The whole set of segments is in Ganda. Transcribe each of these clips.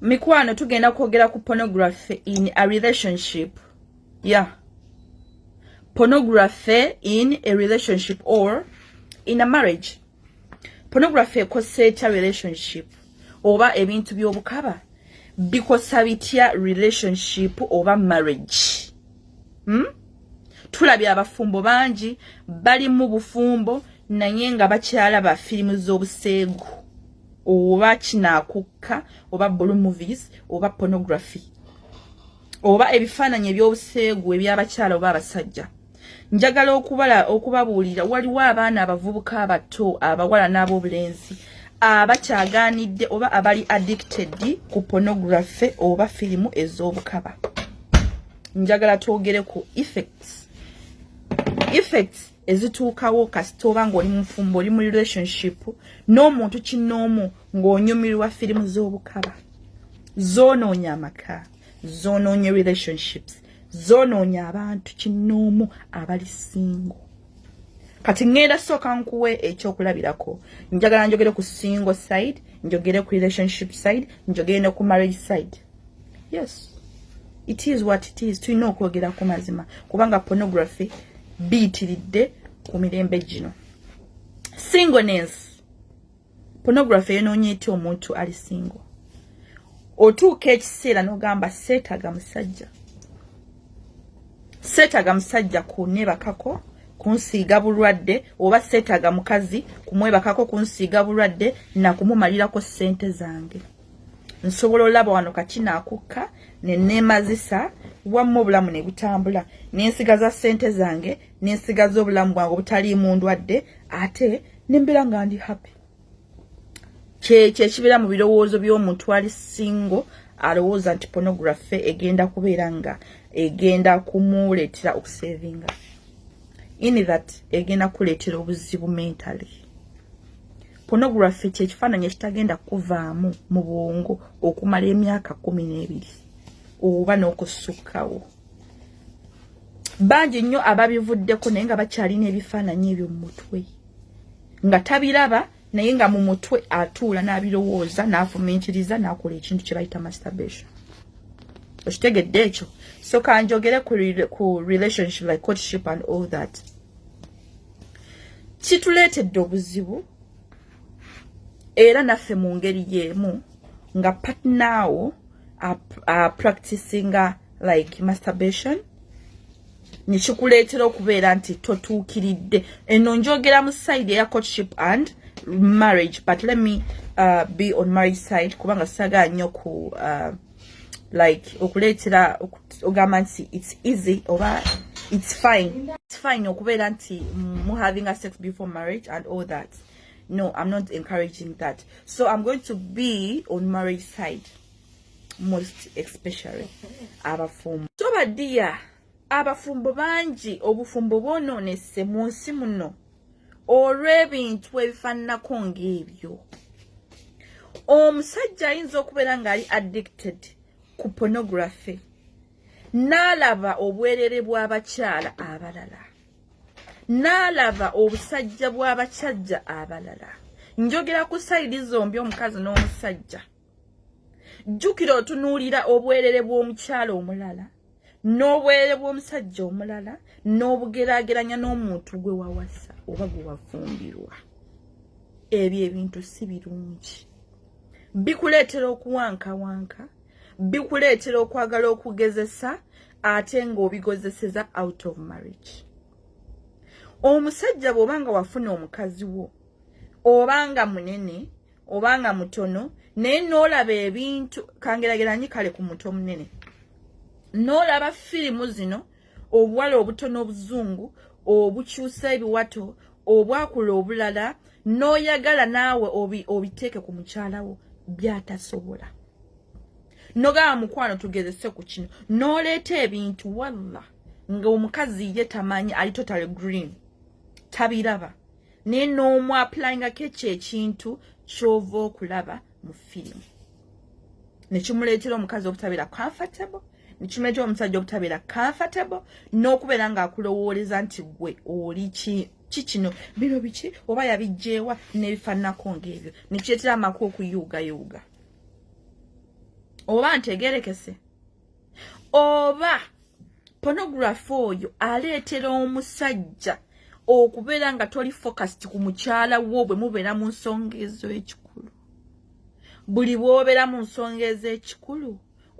mikwano tugenda kwogera ku pornography in a relationship ya yeah. pornography in a relationship or in a marriage pornography ekosa etya relationship oba ebintu by'obukaba bikosa bitya relationship oba marriage hmm? tulabye abafumbo bangi bali mu bufumbo naye nga bakyala ba firimu z'obuseegu oba kinakukka oba blue movies oba pornography oba ebifaananyi ebyobuseegu ebyabakyala oba abasajja njagala okubala okubabuulira waliwo abaana abavubuka abato abawala n'abobulenzi abakyagaanidde oba abali addicted ku pornography oba firimu ez'obukaba njagala twogere ku effects effects ezituukawo kasita oba ng'oli mufumbo oli mu relationship n'omuntu kinnoomu ng'onyumirwa firimu z'obukaba zoonoonya amaka zoonoonya relationships zoonoonya abantu kinnoomu abali singo kati ŋŋenda sooka nkuwe ekyokulabirako njagala njogere ku single side njogere ku relationship side njogere ne ku marriage side yes it is what it is tulina okwogera ku mazima kubanga pornography biyitiridde ku mirembe gino singleness pornography yenoonye etya omuntu ali single otuuka ekiseera n'ogamba seetaga musajja seetaga musajja kunebakako kunsiiga bulwadde oba seetaga mukazi kumwebakako kunsiiga bulwadde nakumumalirako ssente zange nsobola olaba wano kaki nakukka neneemazisa wamma obulamu ne butambula nensigaza ssente zange nensigaza obulamu bwange obutaliimu ndwadde ate nembeera nga ndi happy kyekyo ekibeera mu birowoozo by'omuntu ali singo alowooza nti pornography egenda kubeera nga egenda kumuleetera okusevinga in that egenda kuleetera obuzibu mentally pornography kyekifaananyi ekitagenda kuvaamu mu bwongo okumala emyaka kumi n'ebiri oba n'okusukkawo bangi nnyo ababivuddeko naye nga bakyalina ebifaananyi ebyo mu mutwe nga tabiraba naye nga mu mutwe atuula n'abirowooza n'afuminkiriza n'akola ekintu kye bayita masturbation okitegedde ekyo so kanjogere ku relationship like courtship and all that kituleetedde obuzibu era naffe mu ngeri y'emu nga patnawo apracticinga like masturbation nekikuleetera okubeera nti totuukiridde eno njogera mu side eya courtship and marriage but let me uh, be on marriage side kubanga sagaa nnyo ku uh, like okuleetera ogamba nti its easy oba its fine its fine okubeera nti mu having a sex before marriage and all that no i'm not encouraging that so i'm going to be on marriage side most especially abafumu so badiya abafumbo bangi obufumbo bwonoonese mu nsi muno olw'ebintu ebifaananako ng'ebyo omusajja ayinza okubeera ng'ali addicted ku pornography n'alaba obwerere bw'abakyala abalala n'alaba obusajja bw'abakyajja abalala njogera ku sayidi zombi omukazi n'omusajja jjukira otunuulira obwerere bw'omukyala omulala n'obwerere bw'omusajja omulala n'obugeraageranya n'omuntu gwe wawasa oba gwe wafumbirwa ebyo ebintu si birungi bikuleetera okuwankawanka bikuleetera okwagala okugezesa ate ng'obigozeseza out of marriage omusajja bw'oba nga wafuna omukazi wo oba nga munene obanga mutono naye n'olaba ebintu kangerageranyi kale ku muto omunene n'olaba firimu zino obuwala obutono obuzungu obukyusa ebiwato obwakula obulala n'oyagala naawe obiteeke ku mukyala wo byatasobola nogaba mukwano tugezese ku kino n'oleeta ebintu walla nga omukazi ye tamanyi ali totale green tabiraba naye n'omu apulingako ekyo ekintu kyova okulaba mu firimu nekimuleetera omukazi obutabeera comfortable nekimuleetera omusajja obutabeera comfortable n'okubeera ng'akulowooleza nti gwe oli ki kikino bino biki oba yabijjeewa n'ebifaananako ng'ebyo nekireetera amaku okuyuugayuuga oba ntegerekese oba pornography oyo aleetera omusajja okubeera nga toli focused ku mukyala wo bwe mubeera mu nsonga ez'ekikulu buli bwobeera mu nsonga ez'ekikulu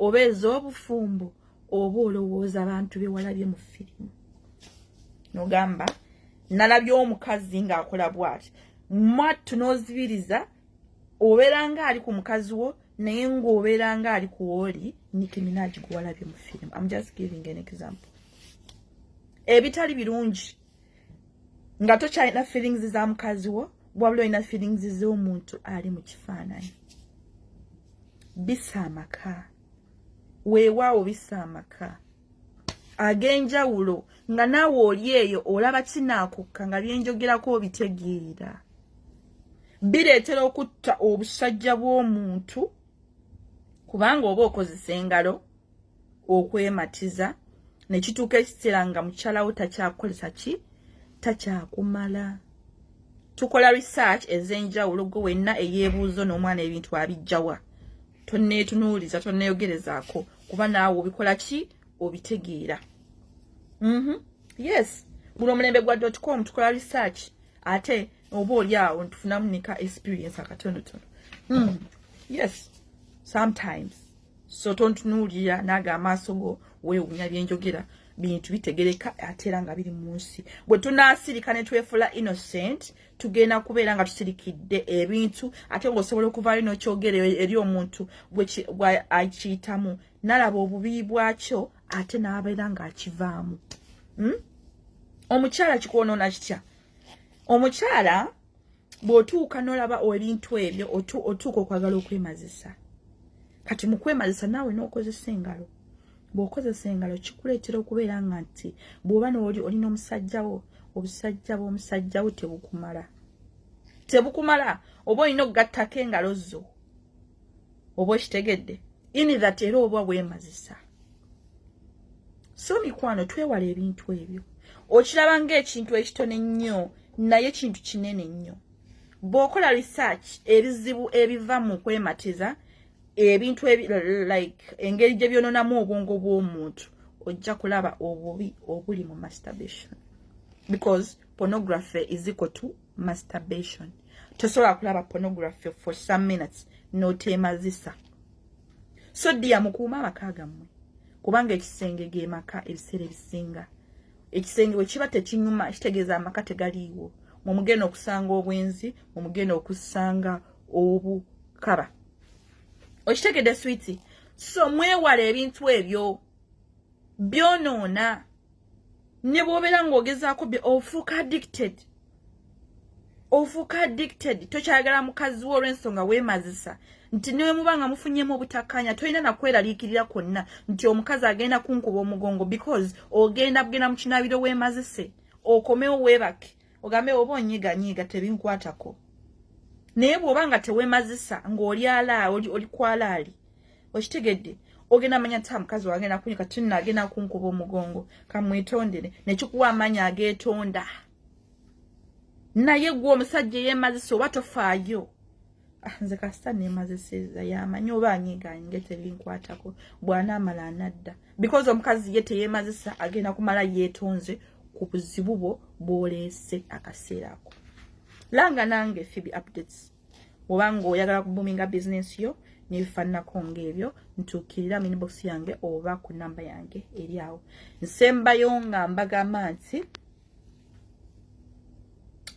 oba ez'obufumbo oba olowooza abantu bewalabye mu firimu nogamba nalabye omukazi ng'akola bwati mwattu n'ozibiriza no obeera nga ali ku mukazi wo naye ng'obeera nga ali ku oli nikiminaji gwewalabye mu firimu am just giving an example ebitali birungi nga tokyalina feelings za mukazi wo wabula olina feelings z'omuntu ali mu kifaananyi bisa amaka weewaawo bisa amaka ag'enjawulo nga naawe oli eyo olaba kinaakukka nga byenjogerako obitegeera bireetera okutta obusajja bw'omuntu kubanga oba okozesa engalo okwematiza ne kituuka ekiseera nga mukyalawo takyakukozesa ki takyakumala tukola research ez'enjawulo gwe wenna eyeebuuzo n'omwana ebintu abijjawa tonneetunuuliza tonneeyogerezaako kuba naawe obikola ki obitegeera mhm. yes guno omulembe gwa dot com tukola research ate oba oli awo ntufunamu nika experience akatonotono hmm. yes sometimes so tontunuulira naaga amaaso go weewunya byenjogera bintu bitegereka ate era nga biri mu nsi bwe tunaasirika ne twefula innocent tugenda kubeera nga tusirikidde ebintu ate ngaosobola okuvaayo nokyogera eri omuntu akiyitamu nalaba obubi bwakyo ate nabeera ngaakivaamu hmm? omukyala kikwonoona kitya omukyala bwotuuka nolaba ebintu ebyo otuuka okwagala okwemazisa kati mukwemazisa naawe nokozesa engalo bw'okozesa engalo kikuleetera okubeera nga nti bw'oba nooli oli n'omusajjawo obusajja bw'omusajjawo tebukumala tebukumala oba olina okugattako engalo zo oba okitegedde ini that era oba weemazisa so mikwano twewala ebintu ebyo okiraba ng'ekintu ekitone nnyo naye kintu kinene nnyo bw'okola research ebizibu ebiva mu kwematiza ebintu like engeri gye byononamu obwongo bw'omuntu ojja kulaba obubi obuli mu masturbation because pornography is equal to masturbation tosobola kulaba pornography for some minutes noteemazisa so dia mukuuma amaka gammwe kubanga ekisenge ge maka ebiseera ebisinga ekisenge bwe kiba tekinyuma kitegeeza amaka tegaliiwo mwe mugenda okusanga obwenzi mwe mugenda okusanga obukaba okitegedde switi so mwewala ebintu ebyo byonoona ne bwobeera ng'ogezaako ofuuka addicted ofuuka addicted tokyagala mukazi wo olw'ensonga weemazisa nti newe muba nga mufunyemu obutakkaanya tolina nakweraliikirira kwonna nti omukazi agenda kunkuba omugongo because ogenda bugenda mu kinaabiro weemazise okomewo weebake ogambe oba onyiganyiga tebinkwatako naye bw'oba nga tewemazisa ng'oli ala oli, oli kwalaali okitegedde ogenda manya ta mukazi wange nakunya kati nno agenda kunkuba omugongo kamwetondere nekikuwa amaanyi ageetonda naye gwe omusajja eyemazisa oba tofaayo Ah, nze kasita nemaze seeza yamanyi oba anyigaanyi nge tebinkwatako bwanaamala anadda because omukazi ye teyemazisa agenda kumala yeetonze ku buzibu bwo bwoleese akaseera ako langa nange fibi updates oba ngaoyagala kubuminga bizinensi yo nebifaananako ngaebyo ntuukirira minbox yange oba ku namba yange eri awo nsembayo nga mbagamba nti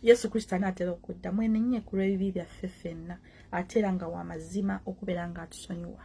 yesu kristo anaatera okudda mwenenye ku lw'ebibi byaffe ffenna ate era nga wa mazima okubeera ng'atusonyiwa